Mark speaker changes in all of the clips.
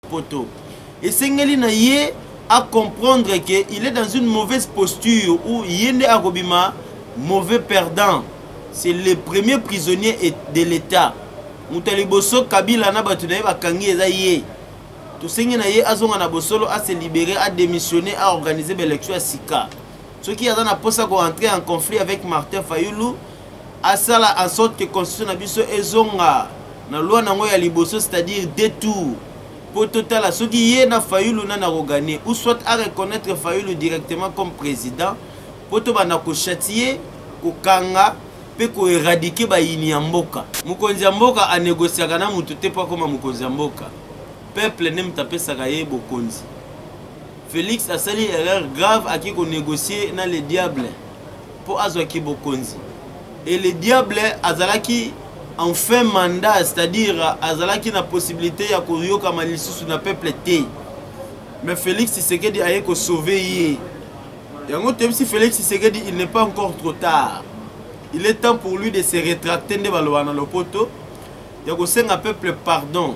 Speaker 1: poto esengeli na ye a comprendre que il est dans une mauvaise posture où ye nde akobima mauvais perdant c'est le premier prisonnier de l'état moto ya liboso kabila na bato na ye bakangi eza ye tosengi na ye azonga na bosolo ase libere adémissionne aorganize baélection ya sika soki aza na mposa koentre en conflit avec martin fayulu asala en sorte que constitution na biso ezonga na loi na yango ya liboso c'est-à-dire deux tours mpo totala soki ye na fayulu nani akogane ou soit a reconnaître fayulu directement comme président mpo tobanda kochatie kokanga mpe koeradike bayini ya mboka mokonzi ya mboka anegosiaka na moto te mpo akoma mokonzi ya mboka peuple nde moto apesaka ye bokonzi félix asali erreur grave ake konegocie na le diable mpo azwaki bokonzi et le diable azalaki en fin mandat c'est-à-dire azalaki na possibilité ya koyokama lisusu na peuple te mais félix tshisekedi aye kosauve ye yango toyebisi félix tshisekedi il n'est pas encore trop tard il est temps pour lui de se rétracter nde baloba na lopoto ya kosenga peuple pardon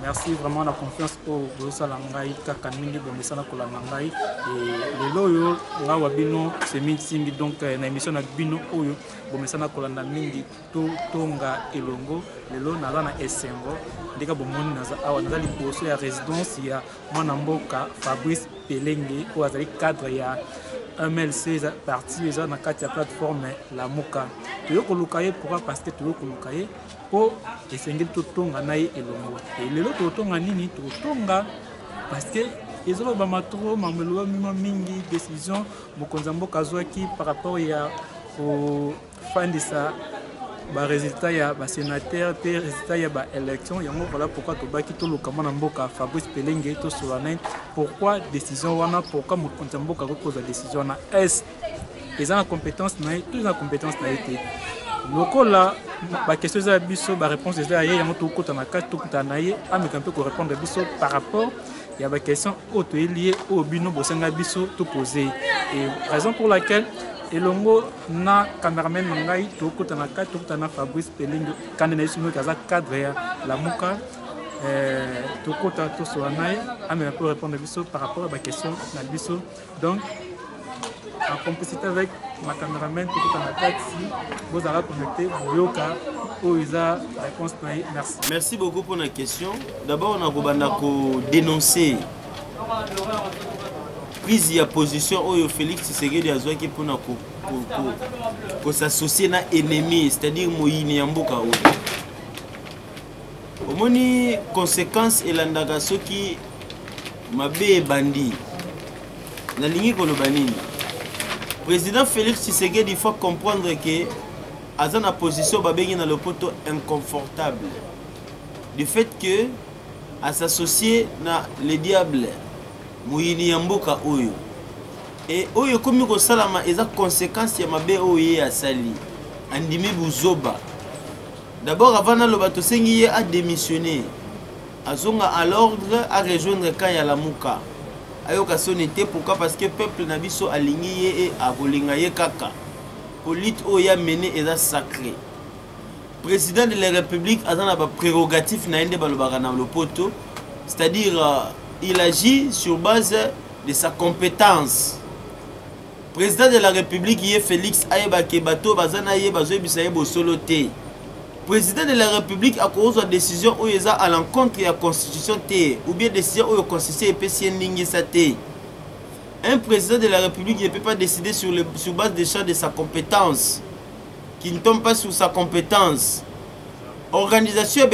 Speaker 2: Merci vraiment na confiance oyo bozosala ngai kaka mingi bomesana kolanda ngai lelo oyo ngai wa bino semi nsimbi donc euh, na émission na bino oyo bomesana kolanda mingi totonga elongo lelo naza na esengo ndenge bomoni naza awa naza liboso ya résidence ya mwana mboka fabrice pelenge oyo azali cadre ya mlc eza parti eza na kati ya plateforme lamuka toyo koluka ye pourquoi parce que toyo koluka ye mpo esengeli totonga na ye elongo e lelo totonga nini totonga parceke ezolobama tro mambo elobami mwa mingi décision mokonzi ya mboka azwaki par rapport ya kofandisa baresultat ya basénateur mpe résultat ya baélection yango voilà pourquoi tobaki toluka mwana mboka fabrice pelenge tosolola na ye pourquoi décision wana pourquoi mokonzi ya mboka akoki kozwa décision wana est eza na compétence na ye to eza na compétence na ye te lokola bakestion eza ya biso baréponse eza ya ye yango tokokota na kati tokutana na ye ameka mpe korépondre biso par rapport ya bakestion oyo toyeli ye oyo bino bosenga biso topose ye raison pour laquelle elongo na cameraman na ngai tokota na kati tokota na fabrice pelenge kande na ye soki aza cadre ya lamuka eh, tokota tosola na ye amela mpo répondre biso par rapport ya bakestion na biso Donc, en complicité avec ma cameraman tokota na taxi bozala connecté boyoka oyo eza réponse na ye merci merci beaucoup mpo na
Speaker 1: question d'abord nakobanda kodénoncer prise ya position oyo félix tshisekedi azwaki mpo na kosassocie na ennemi c'est-à-dire moyini ya mboka oyo omoni conséquence elandaka soki mabe ebandi nalingi koloba nini président félix tshisekedi faut comprendre ke aza na position babengi na lopoto inconfortable du fait que asassocie na le diable moyini ya mboka oyo e oyo ekomi kosalama eza conséquence ya mabe oyo ye asali andimi buzoba D'abord avant naloba tosengi ye a démissionner azonga à l'ordre a rejoindre camp ya Lamuka ayoka soni te pourquoi parce que peuple na biso alingi ye e akolinga ye kaka po lutte oyo ya mene eza sacré président de la république aza na baprérogatife na ye nde balobaka na lopoto c'est-à-dire euh, il agit sur base de sa compétence president de la republique ye felix ayeba ke bato baza na ye bazoyebisa ye bosolo te president de la republique akozwa décision oyo eza à l'encontre ya constitution te ou bien décision oyo constitution epesi ye ndingisa te un président de la république ne peut pas décider sur, le, sur base des champs de sa compétence qui ne tombe pas sur sa compétence organisation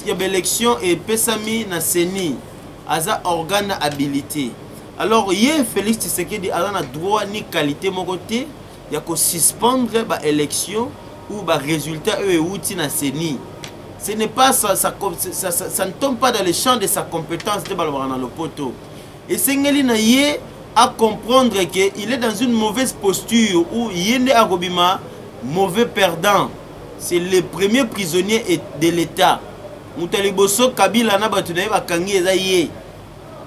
Speaker 1: ya baélection epesami na ceni aza organe habilité alors ye félix tshisekedi aza na droit ni qualité moko te ya kosuspendre baélection ou barésultat oyo euti na ceni ce n'est pas ça, ça, ça, ça, ça ne tombe pas dans le champ de sa compétence nde balobaka na lopoto esengeli na ye acomprendre que il est dans une mauvaise posture ou ye nde akobima mauvais perdant c'est le premier prisonnier de l'état moto ya liboso kabila na bato na ye bakangi eza ye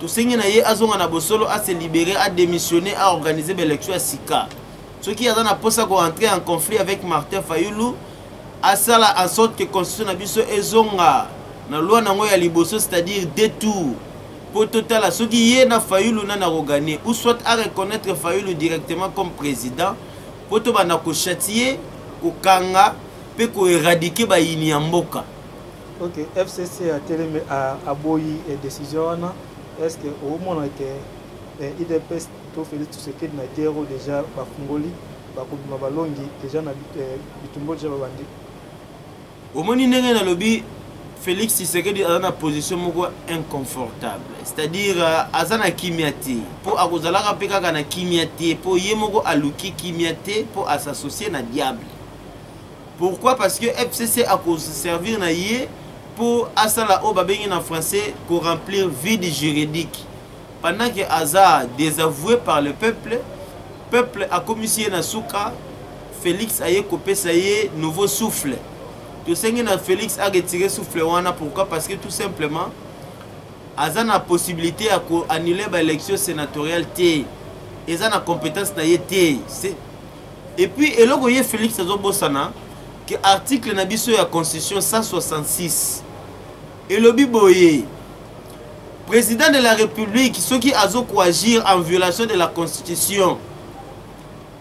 Speaker 1: tosengi na ye azonga na bosolo a se libere a démissionner a organiser baélection ya sika soki aza na mposa koentrer en conflit avec martin fayulu asala en sorte que constitution na biso ezonga na loi na yango ya liboso c'est-à-dire deux tours mpo totala soki ye na fayulu nani akoganie ou soit a reconnaître fayulu directement comme président mpo tobanda kochatie kokanga mpe koeradike bayini ya mboka ok
Speaker 2: fcc atelemi aboyi eh, décision wana est ce que omona ke eh, idps to félix tshisekedi na gero déjà bafungoli bakobima balongi déjà na eh, bitumbo déjà babandi
Speaker 1: omoni ndenge nalobi félix tshisekedi aza na position moko inconfortable c'est-à-dire euh, aza na kimia te mpo akozalaka mpe kaka na kimia te mpo ye moko aluki kimia te mpo asassocie na diable pourquoi parce que fcc akoservir na ye mpo asala oyo babengi na français koremplir vide juridique pendant que aza désavoué par le peuple peuple akomisi ye na suka félix aye kopesa ye nouveau souffle tosengi na félix aretire souffle wana pourquoi parce que tout simplement aza na possibilité ya koannule baélection sénatoriale te eza na compétence na ye te et puis eloko ye Felix azobosana que article na biso ya constitution 166 elobi boye président de la république soki azokoagir en violation de la constitution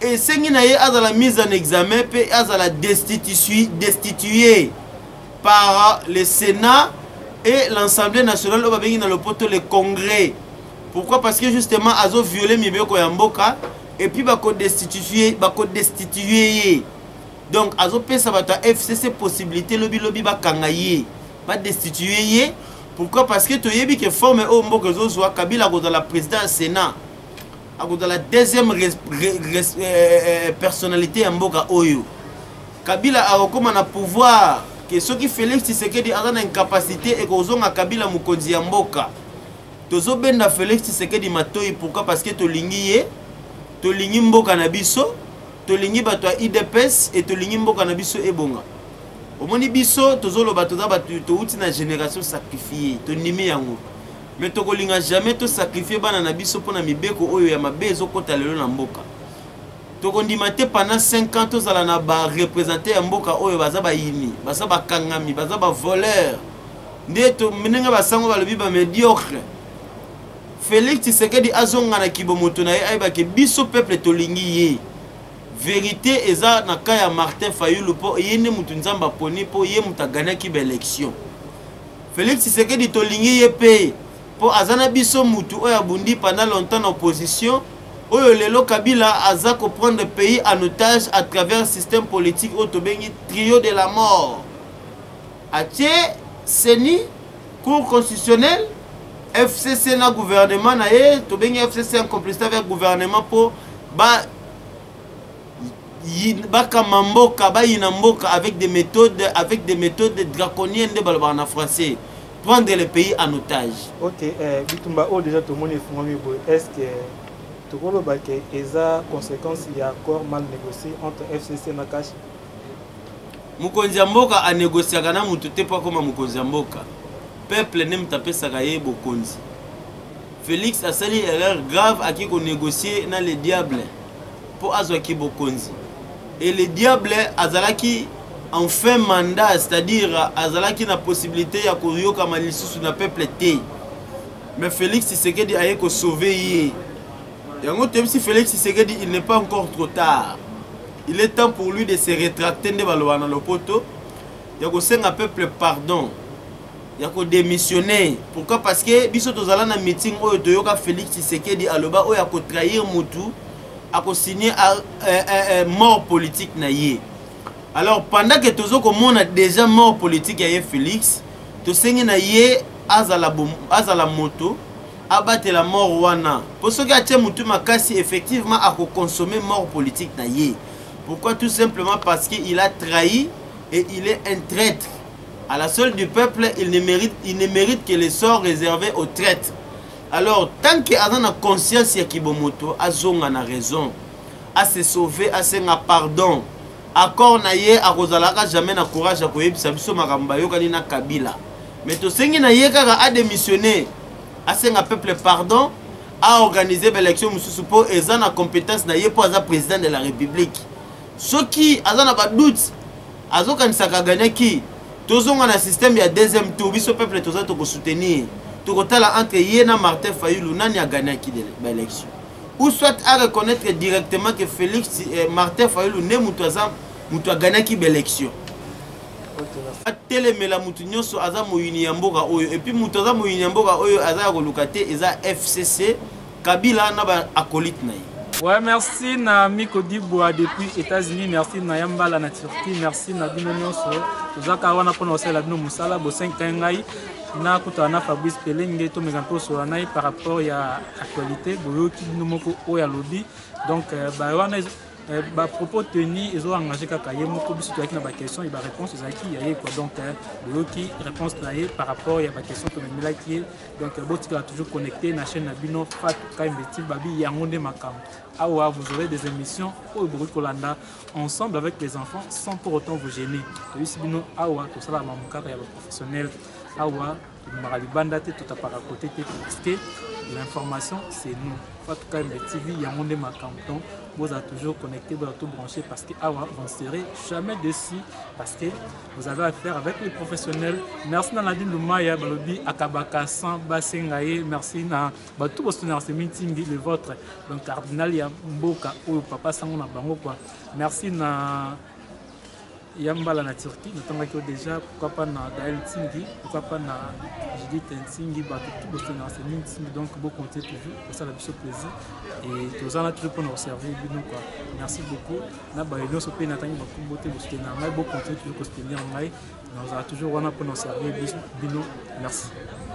Speaker 1: esengi na ye azala mise en examen mpe azala destitue, destitue par le sénat et l'assemblée nationale oyo babengi na lopoto le congrès pourquoi parce que justement azoviole mibeko ya mboka et puis bako destituer bako destituer ye donc azopesa bato ya fcc possibilité lobilobi bakanga ye badestitue ye pourquoi parce que toyebi ke forme oyo mboka ezozwa kabila akozala président ya sénat akozala deuxième res, res, res, euh, euh, euh, personnalité ya mboka oyo kabila akokóma na pouvoir ke soki félix tshisekedi aza na incapacité ekozonga kabila mokonzi ya mboka tozobenda felix tshisekedi matoi pourquoi parce que tolingi ye tolingi mboka na biso tolingi bato ya idps e tolingi mboka na biso ebonga omoni biso tozoloba toza bato touti na génération sacrifie tondimi yango me tokolinga jamais tosacrifie bana na biso mpo na mibeko oyo ya mabe ezokɔta lelo na mboka tokondima te pendant 5 ans tozala na ba représente ya mboka oyo baza bayini baza bakangami baza bavoleur nde ndenge basango balobi bamediocre félix tshisekedi azonga na kibo moto na ye ayebake biso peuple tolingi ye verité eza na ka ya martin fayulu mpo ye nde moto nzambe aponi mpo ye moto aganaki baélection félix tshisekedi tolingi ye mpe Po aza na biso mutu oyo abundi pendant longtemps na opposition oyo lelo Kabila aza ko prendre pays en otage à travers système politique oyo tobengi trio de la mort. Atie CENI, Cour constitutionnelle, FCC na gouvernement na ye, tobengi FCC en complicité avec gouvernement po ba bakama mboka bayina mboka avec des méthodes avec des méthodes draconiennes nde balobaka na français prendre le pays en otage ok eh,
Speaker 2: bitumba oyo déjà tomoni efungwami boye est ce que tokoloba ke eza conséquence ya accord mal négocié entre fcc na kashi
Speaker 1: mokonzi ya mboka anegosiaka na moto te mpo akoma mokonzi ya mboka peuple nde moto apesaka ye bokonzi félix asali erreur grave ake konegocie na le diable mpo azwaki bokonzi et le diable azalaki en fin mandat c'est-à-dire azalaki na possibilité ya koyokama lisusu na peuple te mais félix tshisekedi aye kosauve ye yango toyebisi félix tshisekedi il n'est pas encore trop tard il est temps pour lui de se rétracter nde baloba na lopoto ya kosenga peuple pardon ya ko démissionner pourquoi parce que biso tozala na meeting oyo toyoka Félix Tshisekedi aloba oyo ako trahir mutu ako signer euh, euh, euh, mort politique na ye alors pendant que tozo komona déjà mort politique ya ye Félix tosengi na ye azala bom, azala moto abatela mort wana po soki atie mutu makasi effectivement ako consommer mort politique na ye pourquoi tout simplement parce que il a trahi et il est un traître à la seule du peuple il ne mérite, il ne mérite que le sort réservé aux traites alors tant que aza na conscience ya kibomoto azonga na raison ase sauve asenga pardon accord na ye akozalaka jamais na courage ya koyebisa biso makambo bayokani na kabila mais tosengi na ye kaka adémissionne asenga peuple pardon aorganize baélection mosusu mpo eza na compétence na ye mpo aza président de la république soki aza na ba doute azokanisaka aganaki tozonga na système ya deuxième tour biso peuple toza tokosoutenir tokotala entre ye na martin fayulu nani aganaki baélection ou soit a reconnaître directement que félix eh, martin fayulu nde moto aza moto aganaki baélection atelemela moto nyonso aza moyini ya mboka oyo epuis moto aza moyini ya mboka oyo aza ya koluka te eza fcc Kabila na ba acolyte na ye. Ouais, merci
Speaker 2: na Miko Dibwa depuis États-Unis, merci na Yambala na Turquie, merci na bino nyonso. Tozaka wana pona osala bino musala bo 5 ngai na kutana na Fabrice Pelenge to mes ampos sur nai par rapport ya actualité boyoki bino moko oyo alobi. Donc euh, ba wana euh, ba propos tenus ezo engagé kaka ye moko biso toyaki na ba questions et ba réponses ezalaki ya ye quoi. Donc euh, boyoki réponse na ye par rapport ya ba questions tomemelaki ye Donc botikala toujours connecté na chaîne na bino Fatou Kaimbe Tilbabi yango nde makambo. Awa vous aurez des émissions oyo bokoki kolanda ensemble avec les enfants sans pour autant vous gêner. Toyisi bino awa tosala mamu kaka ya ba professionnels. Awa tobimaka libanda te totapaka kote te parce que l'information c'est nous. Fatou Kaimbe TV yango nde makambo. Donc vous êtes toujours connecté, vous êtes tout branché parce que awa vous ne serez jamais déçus parce que Vous avez affaire avec les professionnels. Merci na Nadine Lumaya balobi akabaka sans basenga ye. Merci na bato bosu na Semintingi le vôtre. Donc cardinal ya mboka oyo papa sango na bango quoi. Merci na ya mbala na Turquie natangaki yo déjà pourquoi pas na Gaël Tingi pourquoi pas na Judith Ntingi bato tout bosu na Semintingi donc bo compter toujours kosala biso plaisir et tozana toujours mpona koservir bino quoi. Merci beaucoup. na baye nyonso mpe natangi bakombo te bosutenir ngai bocontinue toujours kosutenir ngai nazala toujours wana mpo na servir bino merci